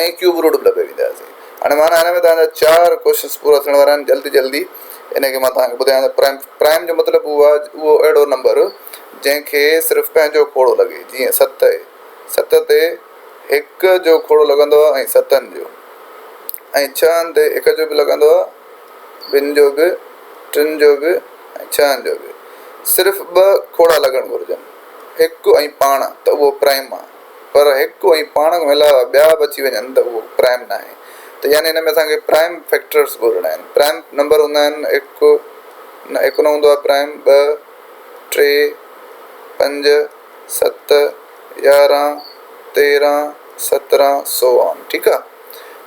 ۽ Cube root به لڳائي وينداسين هاڻي معنيٰ هن ۾ توهان جا چار ڪوششنس پورا ٿيڻ وارا آهن جلد جلدي ان کي مان توهان کي ٻڌايان ٿو پرائم پرائم جو مطلب اهو آهي اهو اهڙو نمبر جنهن کي صرف پنهنجو کوڙو لڳي جيئن ست اهي ست تي هڪ جو کوڙو لڳندو آهي ۽ ستن جو ۽ ڇهن تي هڪ جو به لڳندو آهي ٻن جو به ٽن جو به ۽ ڇهن جو به صرف ٻه کوڙا لڳڻ گهرجن هڪ ۽ پاڻ ته اهو پرائم آهي پر هڪ ۽ پاڻ کان علاوه ٻيا به اچي وڃن ته اهو پرائم ناهي ته يعني ان ۾ اسان کي پرائم فيڪٽرز ڳولهڻا آهن پرائم نمبر هوندا آهن هڪ نه هڪ نه هوندو آهي پرائم ٻه ٽي پنج ست يارهن تيرهن سترهن سو آن ٺيڪ آهي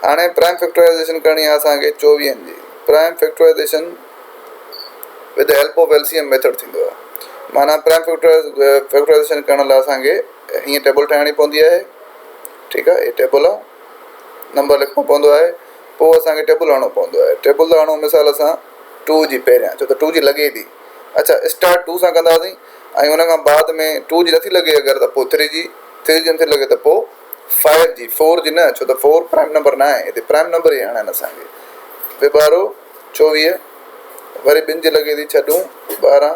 هاڻي پرائم فيڪٽرائزيشن ڪرڻي آهي اسان کي چوويهن جي prime factorisation with help of L C M method ٿيندو آهي معنيٰ پرائم فيڪٽرائز فيڪٽرائزيشن ڪرڻ لاء اسان کي ھيئن ٽيبل ٺاھڻي پوندي آھي ٺيڪ آھي ھي ٽيبل آ نمبر لکڻو پوندو آھي پوء اسانکي ٽيبل ھڻڻو پوندو آھي ٽيبل ھڻو مثال سان ٽو جي پھريان ڇو ته ٽو جي لڳي ٿي اڇا اسٽارٽ ٽو سان ڪنداسين ۽ ان کان بعد ۾ ٽو جي نٿي لڳي اگر ته پوء ٿري جي ٿري جي نٿي لڳي ته پوء فائو جي فور جي نه ڇو ته فور پرائم نمبر نه آھي ھتي پرائم نمبر ئي ھڻن اسانکي وي ٻارو چوويھ وري ٻن جي لڳي ٿي ڇھ ڏون ٻارنھن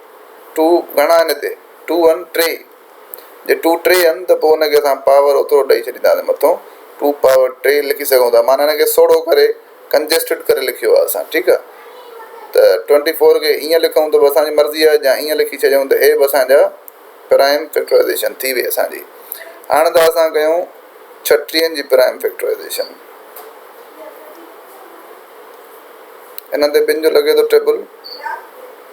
ٽو گهڻا آهن هتي؟ ٽو آهن ٽي. جي ٽو ٽي آهن ته پوء ان کي اسان پاور اوترو ڏئي ڇڏينداسين مٿون ٽو پاور ٽي لکي سگهون ٿا معنيٰ ان کي سوڙهو ڪري Congested ڪري لکيو آهي اسان ٺيڪ آهي ته ٽوئنٽي فور کي ائين لکون ته به اسان جي مرضي آهي يا ائين لکي ڇڏيون ته هي به اسان جا پرائم فيڪٽرائيزيشن ٿي وئي اسان جي هاڻ ته اسان ڪيون ڇٽيهن جي پرائم فيڪٽرائيزيشن انهن تي ٻن جو لڳي ٿو ٽيبل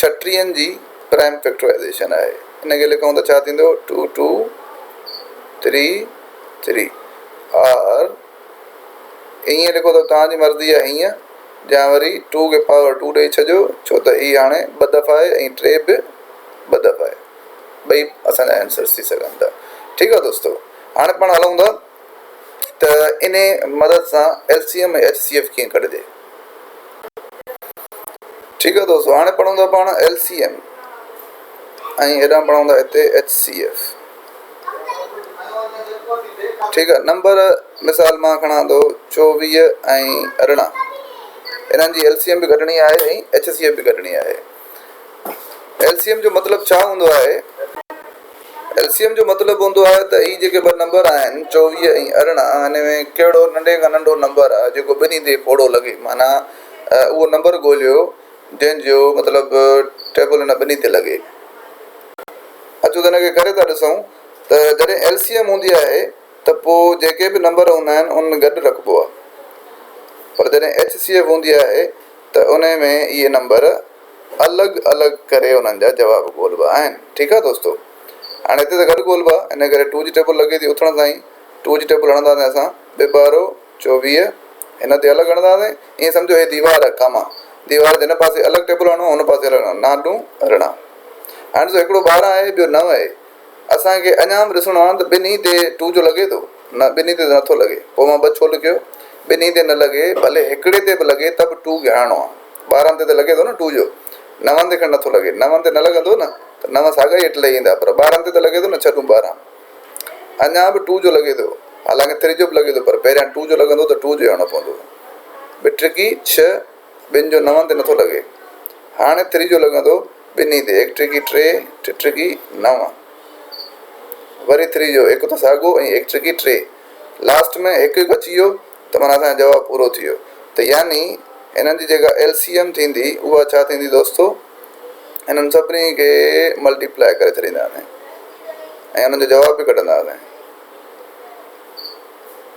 ڇٽرين جي پرائم فيڪٽرائيزيشن آهي. ان کي لکون ته ڇا ٿيندو two two three three or ائين لکو ته توهان جي مرضي آهي هيئن يا وري ٽو کي پاور ٽو ڏئي ڇڏيو ڇو ته هي هاڻي ٻه دفعا آهي ۽ ٽي به ٻه دفعا آهي ٻئي اسان جا آنسرس ٿي سگهن ٿا ٺيڪ آهي دوستو هاڻي پاڻ هلون ٿا ته انهي مدد سان L C M ۽ H C F ڪيئن ڪڍجي. ٺيڪ آهي دوستو هاڻي پڙهون ٿا پاڻ ايل سي ايم ۽ هيڏانهن پڙهون ٿا هتي ايڇ سي ايف ٺيڪ آهي نمبر مثال مان کڻان ٿو چوويهه ۽ ارڙهن انهن جي ايل سي ايم به ڪڍڻي آهي ۽ ايڇ سي ايف به ڪڍڻي آهي ايل سي ايم جو مطلب ڇا هوندو آهي ايل سي ايم جو مطلب هوندو آهي ته هي جيڪي ٻه نمبر آهن چوويهه ۽ ارڙهن هن ۾ ڪهڙو ننڍي کان ننڍو نمبر آهي جيڪو ٻنهي تي پوڙهو لڳي معنيٰ اهو نمبر ڳوليو جنهن جو مطلب ٽيبل هن ٻنهي تي لڳي. اچو ته هن کي ڪري ٿا ڏسون ته جڏهن ايل سي ايم هوندي آهي ته پوء جيڪي به نمبر هوندا آهن انهن ۾ گڏ رکبو آهي پر جڏهن ايڇ سي ايف هوندي آهي ته انهي ۾ اهي نمبر الڳ الڳ ڪري انهن جا جواب ڳولبا آهن ٺيڪ آ دوستو هاڻي هتي ته گڏ ڳولبا ان ڪري ٽو جي ٽيبل لڳي ٿي اٿڻ سان ئي ٽو جي ٽيبل هڻنداسين اسان ٻه ٻارو چوويهه هن تي الڳ هڻنداسين ائين سمجهو هي ديوار آ ڪاما ديوار جي هن پاسي الڳ ٽيبل هڻو هن پاسي الڳ هڻو نانڊون رڻا هاڻي ڏسو هڪڙو ٻارهن آهي ٻيو نو آهي اسان کي اڃا به ڏسڻو آهي ته ٻنهي تي ٽو جو لڳي ٿو؟ نه ٻنهي تي ته نه ٿو لڳي. پوء مان ٻه ڇو لکيو؟ ٻنهي تي نه لڳي، ڀلي هڪڙي تي به لڳي ته به ٽو گهرائڻو آهي. ٻارهن تي ته لڳي ٿو نه ٽو جو؟ نون تي کڻ نه ٿو لڳي. نون تي نه لڳندو نه ته نو ساڳا ئي هيٺ لهي ايندا پر ٻارهن تي ته لڳي ٿو نه ڇهه ٽون ٻارهن. اڃا به ٽو جو لڳي ٿو. حالانڪه تري جو به لڳي ٿو پر پهريان ٽو جو لڳندو ته ٽو جو هيڻو پوندو. ٻٽرڪي ڇهه. ٻن جو نون تي نٿو لڳي. هاڻي تريجو لڳندو ٻنهي تي، هڪ ٽرڪي ٽي، ٽي ٽرڪي نو. وري تريجو هڪ ته ساڳو ۽ هڪ ٽرڪي ٽي. لاسٽ ۾ هڪ هڪ اچي ويو ته معنيٰ اسان جو جواب پورو ٿي ويو. ته يعني هنن جي جيڪا ايل سي ايم ٿيندي اها ڇا ٿيندي دوستو؟ هنن سڀني کي ملٽي پلائي ڪري ڇڏينداسين ۽ انهن جو جواب به ڪڍنداسين.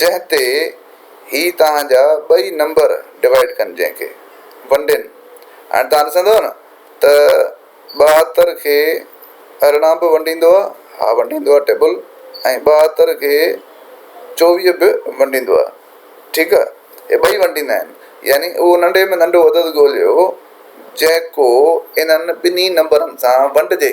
جنهن تي هي توهان جا ٻئي نمبر ڊوائيڊ ڪن جنهن کي ونڊين هاڻي توهان ڏسندؤ نه ته ٻاهتر کي ارڙهن به ونڊيندو آ ها ونڊيندو آ ٽيبل ۽ ٻاهتر کي چوويهه به ونڊيندو آ ٺيڪ آ هي ٻئي ونڊيندا آهن يعني اهو ننڍي ۾ ننڍو عدد ڳوليو جيڪو انهن ٻنهي نمبرن سان ونڊجي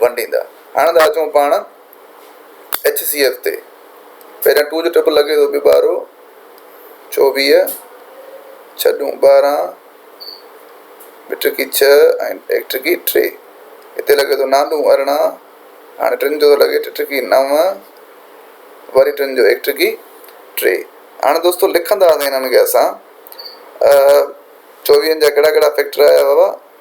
ونڊيندا. هاڻ ٿا اچون پاڻ ايڇ سي ايف تي. پهريان ٽو جو ٽپ لڳي ٿو پيو ٻارو چوويهه ڇهه ڏون ٻارهن ٻه ٽرڪي ڇهه ۽ هڪ ٽرڪي ٽي هتي لڳي ٿو نان ڏون ارڙهن هاڻي ٽن جو ٿو لڳي ٽي ٽرڪي نو وري ٽن جو هڪ ٽرڪي ٽي هاڻ دوستو لکندا هنن کي اسان چوويهن جا ڪهڙا ڪهڙا فيڪٽر آيا بابا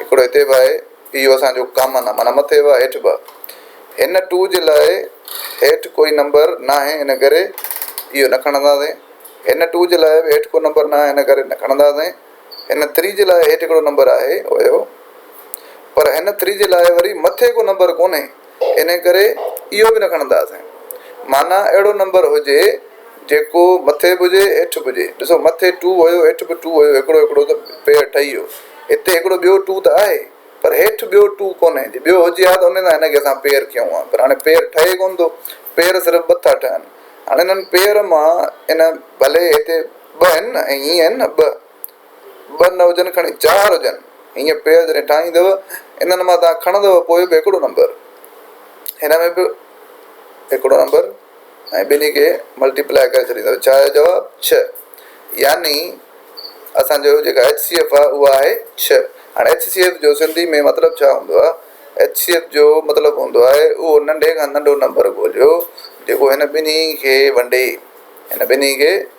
هڪڙو هتي به آهي اهو اسان جو ڪامن آهي معنيٰ مٿي به هيٺ به هن ٽو جي لاء هيٺ ڪوئي نمبر ناهي ان ڪري اهو نه کڻنداسين هن ٽو جي لاء به هيٺ ڪو نمبر ناهي ان ڪري نه کڻنداسين هن ٿري جي لاء هيٺ هڪڙو نمبر آهي اهو پر هن ٿري جي لاء وري مٿي ڪو نمبر ڪونهي انهيء ڪري اهو به نه کڻنداسين. معنيٰ اهڙو نمبر هجي، جيڪو مٿي به هجي، هيٺ به هجي. ڏسو، مٿي ٽو هيو، هيٺ به ٽو هيو، هڪڙو هڪڙو ته پير ٺهي ويو. هتي هڪڙو ٻيو ٽو ته آهي، پر هيٺ ٻيو ٽو ڪونهي. جي ٻيو هجي ها ته انهيء سان هن کي اسان پير ڪيون ها، پر هاڻي پير ٺهي ڪونه ٿو. پير صرف ٻه ٿا ٺهن. هاڻي انهن پير مان ان ڀلي هتي ٻه آهن نه، ائين آهن نه، ٻه. ٻه نه هجن کڻي چار هجن هيئن پيل جڏهن ٺاهيندؤ انهن مان توهان کڻندؤ پوء به هڪڙو نمبر هن ۾ به هڪڙو نمبر ۽ ٻنهي کي ملٽيپلائي ڪري ڇڏيندؤ ڇا آيو جواب ڇهه يعني اسان جو جيڪا ايچ سي ايف آهي اها آهي ڇهه هاڻي ايچ سي ايف جو سنڌي ۾ مطلب ڇا هوندو آهي ايچ سي ايف جو مطلب هوندو آهي اهو ننڍي کان ننڍو نمبر ڳوليو جيڪو هن ٻنهي کي ونڊي هن ٻنهي کي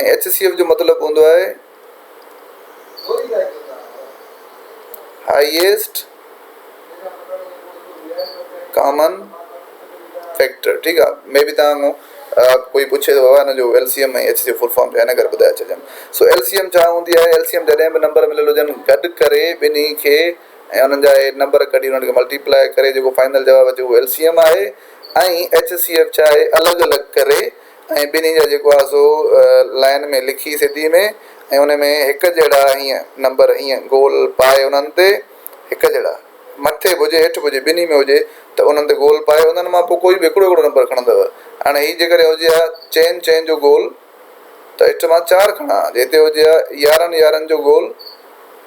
۽ ايڇ سي ايف جو مطلب هوندو آهي هائيسٽ ڪامن فيڪٽر ٺيڪ آهي مي بي تان ڪوئي پڇي ٿو هن جو L C M ۽ H C F full form ٺاهي نه ڪري ٻڌائي ڇڏيان سو ايل سي ايم ڇا هوندي آهي ايل سي ايم جڏهن به نمبر مليل هجن گڏ ڪري ٻنهي کي ۽ انهن جا اهي نمبر ڪڍي انهن کي ملٽيپلائي ڪري جيڪو فائنل جواب اچي اهو ايل سي ايم آهي ۽ ايڇ سي ايف ڇا آهي الڳ الڳ ڪري ۽ ٻنهي جا جيڪو آهي سو لائين ۾ لکي سڌي ۾ ۽ ان ۾ هڪ جهڙا هيئن نمبر هيئن گول پائي انهن تي هڪ جهڙا مٿي به هجي هيٺ به هجي ٻنهي ۾ هجي ته انهن تي گول پائي انهن مان پوء ڪوئي به هڪڙو هڪڙو نمبر کڻندو هاڻي هي جيڪڏهن هجي ها چئن چئن جو گول ته هيٺ مان چار کڻان ها جي هتي هجي ها يارهن يارهن جو گول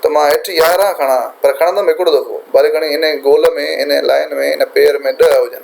ته مان هيٺ يارهن کڻان پر کڻندم هڪڙو دفعو ڀلي گهڻي ان گول ۾ ان لائين ۾ ان پير ۾ ڏهه هجن.